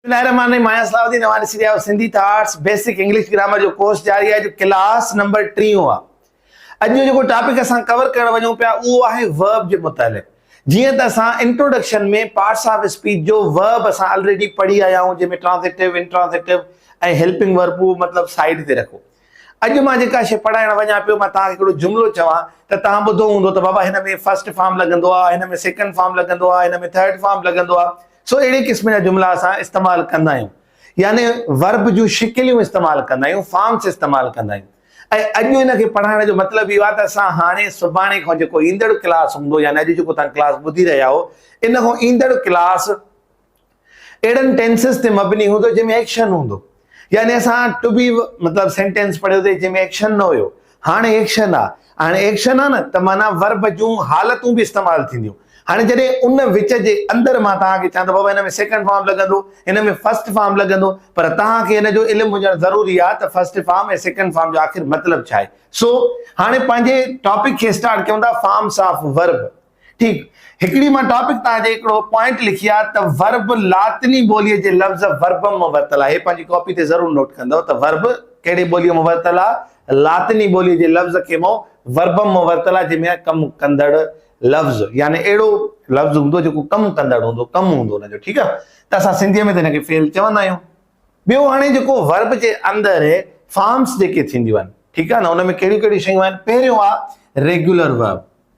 بسمه الله الرحمٰن الرحيم آهيان صلاح الدين اوهان ڏسي رهيا آهيو Sindhi thoughts basic English grammar جو ڪورس جاري آهي جو ڪلاس نمبر ٽيون آهي اڄ جو جيڪو ٽاپڪ اسان ڪور ڪرڻ وڃون پيا اهو آهي ورب جي متعلق جيئن ته اسان انٽروڊڪشن ۾ پارٽس آف اسپيچ جو ورب اسان آلريڊي پڙهي آيا آهيون جنهن ۾ ٽرانزيٽو انٽرانزيٽو ۽ هيلپنگ ورب مطلب سائيڊ تي رکو اڄ مان جيڪا شيء پڙهائڻ وڃان پيو، مان توهان کي هڪڙو جملو چوان ته توهان ٻڌو هوندو ته بابا هن ۾ فرسٽ فارم لڳندو آهي، هن ۾ سيڪنڊ فارم لڳندو آهي، هن ۾ ٿرڊ فارم لڳندو آهي. سو اهڙي قسم جا جملا اسان استعمال ڪندا آهيون. يعني ورب جون شڪليون استعمال ڪندا آهيون، فارمس استعمال ڪندا آهيون. ۽ اڄ ان کي پڙهائڻ جو مطلب اهو آهي ته اسان هاڻي سڀاڻي کان جيڪو ايندڙ ڪلاس هوندو يعني اڄ جيڪو توهان ڪلاس ٻڌي رهيا آهيو، ان کان ايندڙ ڪلاس اهڙن ٽينسز تي مبني هوندو جنهن ۾ ايڪشن هوندو يعني اسان ٽو بي مطلب سينٽينس پڙهيو تي جنهن ۾ ايڪشن نه هيو هاڻي ايڪشن آ هاڻي ايڪشن آ نه ته معنيٰ ورب جون حالتون به استعمال ٿينديون هاڻي جڏهن ان وچ جي اندر مان توهان کي چوان ته بابا هن ۾ سيڪنڊ فارم لڳندو هن ۾ فرسٽ فارم لڳندو پر توهان کي هن جو علم هجڻ ضروري آ ته فرسٽ فارم ۽ سيڪنڊ فارم جو آخر مطلب ڇا آهي سو هاڻي پنهنجي ٽاپڪ کي اسٽارٽ ڪيون ٿا فارمس آف ورب ٺيڪ هڪڙي مان ٽاپڪ تان جي هڪڙو پوائنٽ لکي آ ته ورب لاطني ٻوليء جي لفظ وربم مان ورتل آهي پنهنجي ڪاپي تي ضرور نوٽ ڪندؤ ته ورب ڪهڙي ٻوليء مان ورتل آ لاطني ٻوليء جي لفظ کي مون وربم مان ورتل آ جنهن ۾ ڪم ڪندڙ لفظ يعني اهڙو لفظ هوندو جيڪو ڪم ڪندڙ هوندو ڪم هوندو ان جو ٺيڪ آ ته اسان سنڌي ۾ ته هن کي فعل چوندا آهيون ٻيو هاڻي جيڪو ورب جي اندر فارمس جيڪي ٿينديون آهن ٺيڪ آ نه ان ۾ ڪهڙيون ڪهڙيون شيون آهن پهريون آ regular verb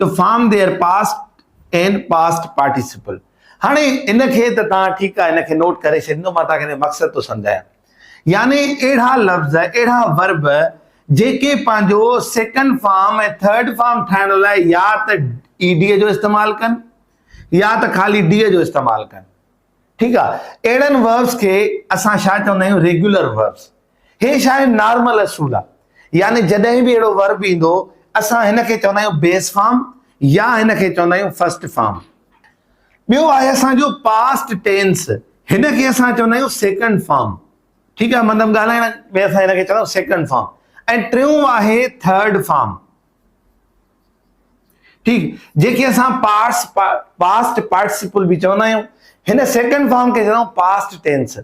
two form their past and past participle هاڻي ان کي ته توهان ٺيڪ آهي ان کي نوٽ ڪري ڇڏيندو مان توهان کي مقصد ٿو سمجهايان يعني اهڙا لفظ اهڙا ورب جيڪي پنهنجو سيڪنڊ فارم ۽ ٿرڊ فارم ٺاهڻ لاء يا ته اي ڊي جو استعمال ڪن يا ته خالي ڊي جو استعمال ڪن ٺيڪ آ اهڙن وربس کي اسان ڇا چوندا آهيون ريگيولر وربس هي ڇا آهن نارمل اصول آ يعني جڏهن به اهڙو ورب ايندو اسان هن کي چوندا آهيون بيس فارم يا هن کي چوندا آهيون فرسٽ فارم ٻيو آهي اسان جو پاسٽ ٽينس هن کي اسان چوندا آهيون سيڪنڊ فارم ٺيڪ آ مطلب ڳالهائڻ ۾ اسان هن کي چوندا آهيون سيڪنڊ فارم ۽ ٽيون آهي ٿرڊ فارم ٺيڪ جنهن کي اسان پاس پاسٽ پارٽيسپل به چوندا آهيون هن سيڪنڊ فارم کي چوندا پاسٽ ٽينس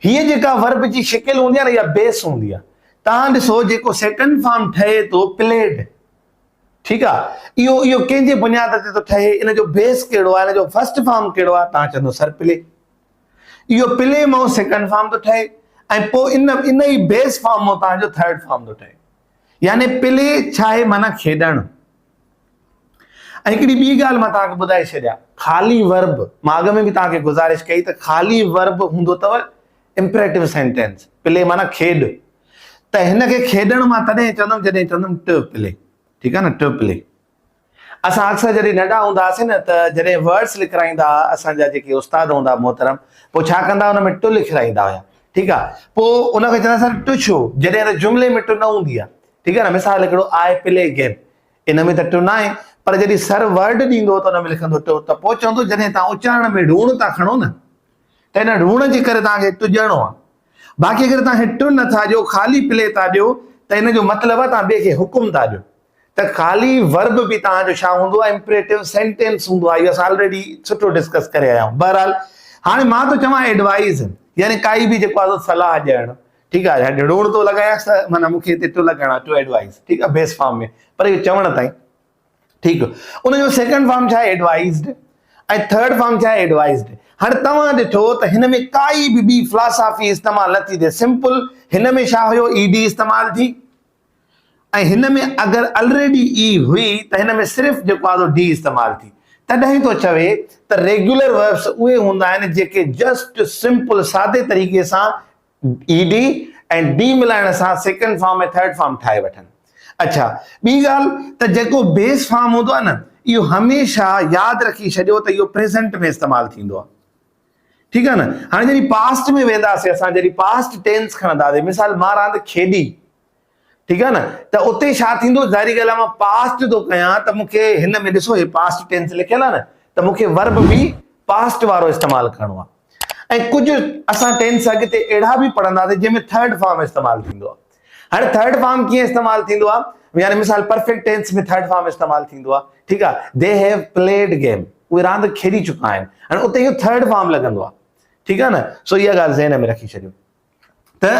هيء جيڪا ورب جي شڪل هوندي آهي نه اها بيس هوندي آهي تان ڏسو جيڪو سيڪنڊ فارم ٺهي ٿو پليڊ ٺيڪ آهي اهو اهو ڪنهن جي بنياد تي ٿو ٺهي ان جو بيس ڪهڙو آهي ان جو فرسٽ فارم ڪهڙو آهي تان چوندو سر پلي اهو پلي مئو سيڪنڊ فارم ٿو ٺهي ۽ پوء ان ان ئي بيس فارم مئو تان جو ٿرڊ فارم ٿو ٺهي يعني پلي ڇا آهي معنيٰ کيڏڻ. ۽ هڪڙي ٻي ڳالهه مان توهان کي ٻڌائي ڇڏيان خالي ورب مان اڳ ۾ به توهان کي گذارش ڪئي ته خالي ورب هوندو اٿو امپريٽو سينٽينس پلي معنيٰ کيڏ ته هن کي کيڏڻ مان تڏهن چوندم جڏهن چوندم ٽه پلي ٺيڪ آهي نه ٽه پلي. اسان اڪثر جڏهن ننڍا هوندا هئاسين نه ته جڏهن ورڊس لکرائيندا ها اسان جا جيڪي استاد هوندا ها محترم پوء ڇا ڪندا هئا ان ۾ ٽو لکرائيندا هيا ٺيڪ آ پوء ان کي چوندا سر ٽو ڇو جڏهن ته جملي ۾ ٽو نه هوندي آ ٺيڪ آ نه مثال هڪڙو آء پلي گيم ان ۾ ته ٽو ناهي پر جڏهن سر ورڊ ڏيندو ته ان ۾ لکندو ٽو ته پوء چوندو جڏهن تان اچارڻ ۾ ڙوڻ ٿا کڻو نه ته ان ڙوڻ جي ڪري تان کي ٽو ڏيڻو آ باقي اگر تان کي ٽو نه ٿا ڏيو خالي پلي ٿا ڏيو ته ان جو مطلب آ تان ٻئي کي حڪم ٿا ڏيو ته خالي ورب به توهان جو ڇا هوندو آهي امپريٽو سينٽينس هوندو آهي اهو اسان آلريڊي سٺو ڊسڪس ڪري آيا آهيون بهرحال هاڻي مان ٿو چوان ايڊوائز يعني ڪائي به جيڪو آهي صلاح ڏيڻ ٺيڪ آهي هاڻي ڊوڙ ٿو لڳايان ته معنيٰ مون کي هتي ٽو لڳائڻا ٽو ايڊوائز ٺيڪ آهي بيس فارم ۾ پر اهو چوڻ تائين ٺيڪ ان جو سيڪنڊ فارم ڇا آهي ايڊوائزڊ ۽ ٿرڊ فارم ڇا آهي ايڊوائزڊ هر توهان ڏٺو ته هن ۾ ڪائي به ٻي فلاسافي استعمال نه ٿي ٿئي سمپل هن ۾ ڇا هيو اي ڊي استعمال ٿي ۽ هن ۾ اگر الريڊي ئي هئي ته هن ۾ صرف جيڪو آڌو ڊي استعمال ٿي تڏهن ٿو چوي ته ريگيولر وربس اهي هوندا آهن جيڪي جسٽ سمپل سادي طريقي سان ئي ڊي ۽ ڊي ملائڻ سان سيڪنڊ فارم ۽ ٿرڊ فارم ٺاهي وٺن. اڇا ٻي ڳالهه ته جيڪو بيس فارم هوندو آهي نه اهو هميشه ياد رکي ڇڏيو ته اهو پريزنٽ ۾ استعمال ٿيندو آهي. ٺيڪ آ نه هاڻي جڏهن پاسٽ ۾ وينداسين اسان جڏهن پاسٽ ٽينس کڻنداسين مثال مان راند کيڏي ٺيڪ آ نه ته اتي ڇا ٿيندو ظاهري ڳالهه آ مان پاسٽ ٿو ڪيان ته مونکي هن ۾ ڏسو هي پاسٽ ٽينس لکيل آ نه ته مونکي ورب به پاسٽ وارو استعمال ڪرڻو آ ۽ ڪجهه اسان ٽينس اڳتي اهڙا به پڙهنداسين جنهن ۾ ٿرڊ فارم استعمال ٿيندو آ هاڻي ٿرڊ فارم ڪيئن استعمال ٿيندو آ يعني مثال پرفيڪٽ ٽينس ۾ ٿرڊ فارم استعمال ٿيندو آ ٺيڪ آ دي هيو پليڊ گيم اهي راند کيڏي چڪا آهن هاڻي اتي اهو ٿرڊ فارم لڳندو آ ٺيڪ آ نه سو اها ڳالهه ذهن ۾ رکي ڇڏيو ته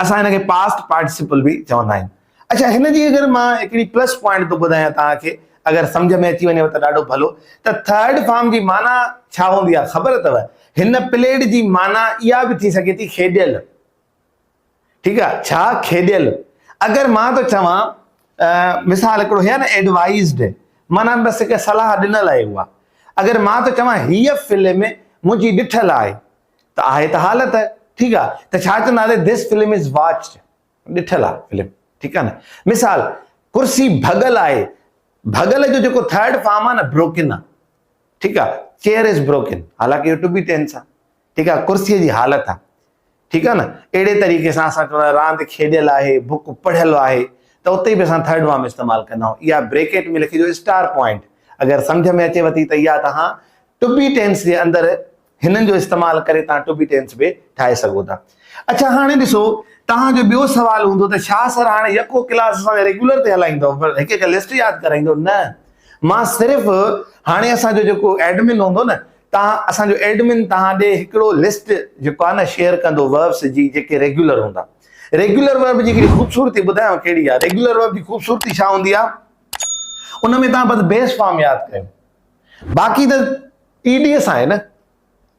اسان هن کي پاسٽ پارٽيسپل به چوندا آهيون اچھا هن جي اگر مان هڪڙي پلس پوائنٽ ٿو ٻڌايان توهان کي اگر سمجھ ۾ اچي وڃي ته ڏاڍو ڀلو ته ٿرڊ فارم جي معنی ڇا هوندي آ خبر اٿو هن پليڊ جي معنی اها به ٿي سگهي ٿي کيڏيل ٺيڪ آ ڇا کيڏيل اگر مان ٿو چوان مثال هڪڙو هي نه ايڊوائزڊ معنيٰ بس هڪ صلاح ڏنل آهي اها اگر مان ٿو چوان هيء فلم منهنجي ڏٺل آهي ته آهي ته حالت ٺيڪ آ ته ڇا چونداسي ڌس فلم از واچڊ ڏٺل آ فلم ٺيڪ آ نه مثال ڪرسي ڀڳل آهي ڀڳل جو جيڪو ٿرڊ فارم آ نه بروڪن آ ٺيڪ آ چيئر از بروڪن حالانڪه اهو ٽو بي ٽينس آ ٺيڪ آ ڪرسي جي حالت آ ٺيڪ آ نه اهڙي طريقي سان اسان چوندا راند کيڏيل آهي بوڪ پڙهيل آهي ته اتي به اسان ٿرڊ وام استعمال ڪندا آهيون اها بريڪيٽ ۾ لکي جو اسٽار پوائنٽ اگر سمجھ ۾ اچي وتي ته اها تها ٽبي ٽينس جي اندر هنن جو استعمال ڪري تها ٽبي ٽينس به ٺاهي سگهو ٿا اچھا هاڻي ڏسو تها جو ٻيو سوال هوندو ته شاهه سر هاڻي يڪو ڪلاس اسان ريگولر تي هلائيندو پر هڪ هڪ لسٽ ياد ڪرائيندو نه مان صرف هاڻي اسان جو جيڪو ايڊمن هوندو نه تان اسان جو ايڊمن توهان ڏي هڪڙو لسٽ جيڪو آهي نه شيئر ڪندو وربس جي جيڪي ريگيولر هوندا ريگيولر ورب جي هڪڙي خوبصورتي ٻڌايان ڪهڙي آهي ريگيولر ورب جي خوبصورتي ڇا هوندي آهي ان ۾ توهان بس بيس فارم ياد ڪيو باقي ته اي ڊي اس آهي نه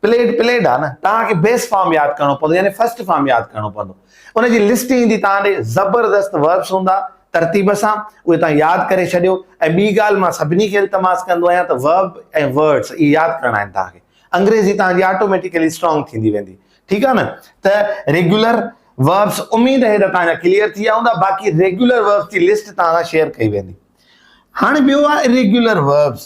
پليٽ پليٽ آهي نه توهان کي بيس فارم ياد ڪرڻو پوندو يعني فرسٽ فارم ياد ڪرڻو پوندو ان جي لسٽ ايندي توهان ڏي، زبردست وربس هوندا، ترتيب سان اهي توهان ياد ڪري ڇڏيو ۽ ٻي ڳالهه مان سڀني کي التماس ڪندو آهيان ته ورب ۽ ورڊس اهي ياد ڪرڻا آهن توهان کي، انگريزي توهان جي آٽوميٽيڪلي اسٽرانگ ٿيندي ويندي ٺيڪ آهي نه ته ريگيولر وربس اميد آهي ته توهان جا ڪليئر ٿي ويا هوندا باقي ريگيولر وربس جي لسٽ توهان سان شيئر ڪئي ويندي. هاڻي ٻيو آهي اريگيولر وربس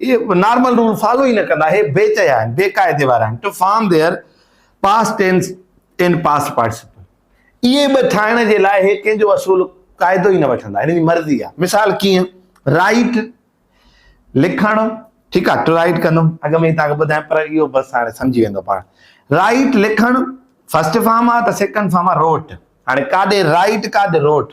اهي نارمل رول فالو ئي نه ڪندا. اهي بي چيا آهن، بي قاعدي وارا آهن. Two form their past tense and past participle. اهي ٻه ٺاهڻ جي لاء اهي ڪنهن جو اصول قاعدو ئي نه وٺندا. هنن جي مرضي آهي. مثال ڪيئن؟ رائيٽ، لکڻ، ٺيڪ آهي. ٽو رائيٽ ڪندم. اڳ ۾ ئي توهان کي ٻڌايم پر اهو بس هاڻي سمجهي ويندو پاڻ. رائيٽ، لکڻ، فرسٽ فارم آهي ته سيڪنڊ فارم آهي روٽ. هاڻي ڪاڏي رائيٽ ڪاڏي روٽ.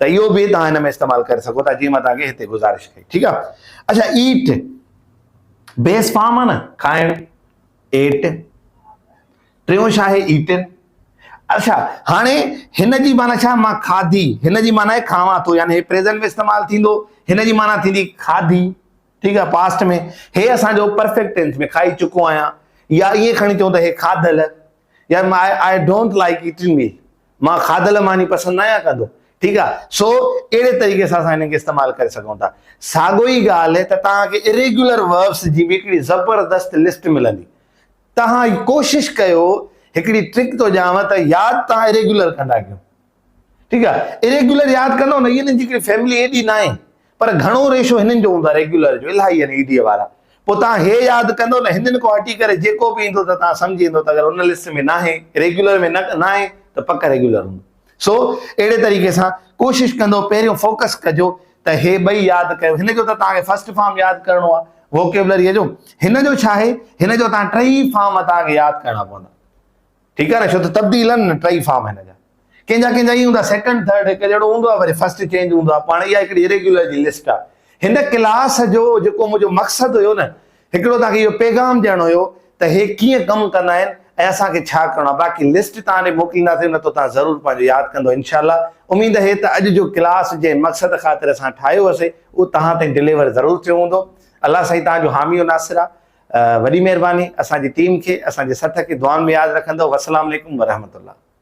ته اهو به توهان هن ۾ استعمال ڪري سگهو ٿا جيئن مان توهان کي هتي گذارش ڪئي ٺيڪ آهي اچا ايٽ بيس فارم آهي نه کائڻ ايٽ ٽيون شا آهي ايٽن اچا هاڻي هن جي معنی ڇا مان کاڌي هن جي معنی آهي کاوان ٿو يعني پريزنٽ ۾ استعمال ٿيندو هن جي معنی ٿيندي کاڌي ٺيڪ آهي پاسٽ ۾ هي اسانجو پرفيڪٽ ٽينس ۾ کائي چڪو آهيان يا ائين کڻي چئون ته هي کاڌل يا آء ڊونٽ لائڪ ايٽنگ مي مان کاڌل ماني پسند ناهيان ڪندو. ٺيڪ آهي. سو اهڙي طريقي سان اسان هنن کي استعمال ڪري سگهون ٿا. ساڳو ئي ڳالهه ته توهان کي Irregular Verbs جي به هڪڙي زبردست لسٽ ملندي. توهان ڪوشش ڪيو هڪڙي ٽرڪ ٿو ڏيانو ته ياد توهان Irregular ڪندا ڪيو. ٺيڪ آهي. Irregular ياد ڪندو نه هي هنن جي هڪڙي فيملي ايڏي ناهي. پر گهڻو ريشو هنن جو هوندو آهي ريگيولر جو الاهي يعني اي ڊي اي وارا پوء توهان هي ياد ڪندو نه هنن کان هٽي ڪري جيڪو به ايندو ته توهان سمجهي ويندو ته اگر ان لسٽ ۾ ناهي ريگيولر ۾ ناهي ته پڪ ريگيولر هوندو سو اهڙي طريقي سان ڪوشش ڪندو پهريون فوڪس ڪجو ته هي ٻئي ياد ڪيو هن جو ته توهان کي فرسٽ فارم ياد ڪرڻو آهي ووڪيبلري جو هن جو ڇا آهي هن جو توهان ٽئي فارم توهان کي ياد ڪرڻا پوندا ٺيڪ آهي نه ڇو ته تبديل آهن نه ٽئي فارم هن جا ڪنهن جا ڪنهن جا اي هوندا سيڪنڊ ٿرڊ هڪ جهڙو هوندو آهي وري فرسٽ چينج هوندو آهي پاڻ اها هڪڙي ريگيولر جي لسٽ آهي هن ڪلاس جو جيڪو منهنجو مقصد هيو نه هڪڙو توهان کي اهو پيغام ڏيڻو هيو ته هي ڪيئن ڪم ڪندا آهن ۽ اسان کي ڇا ڪرڻو آهي باقي لسٽ توهان ڏي موڪلينداسين نه ته توهان ضرور پنهنجو ياد ڪندو انشاء الله اميد هي ته اڄ جو ڪلاس جنهن مقصد خاطر اسان ٺاهيو هوسي اهو توهان تائين ڊليور ضرور ٿيو هوندو الله سائين توهان جو حامي و ناصر آهي وڏي مهرباني اسان جي ٽيم کي اسان جي سٿ کي دعائن ۾ ياد رکندؤ وسلام عليڪم ورحمة الله.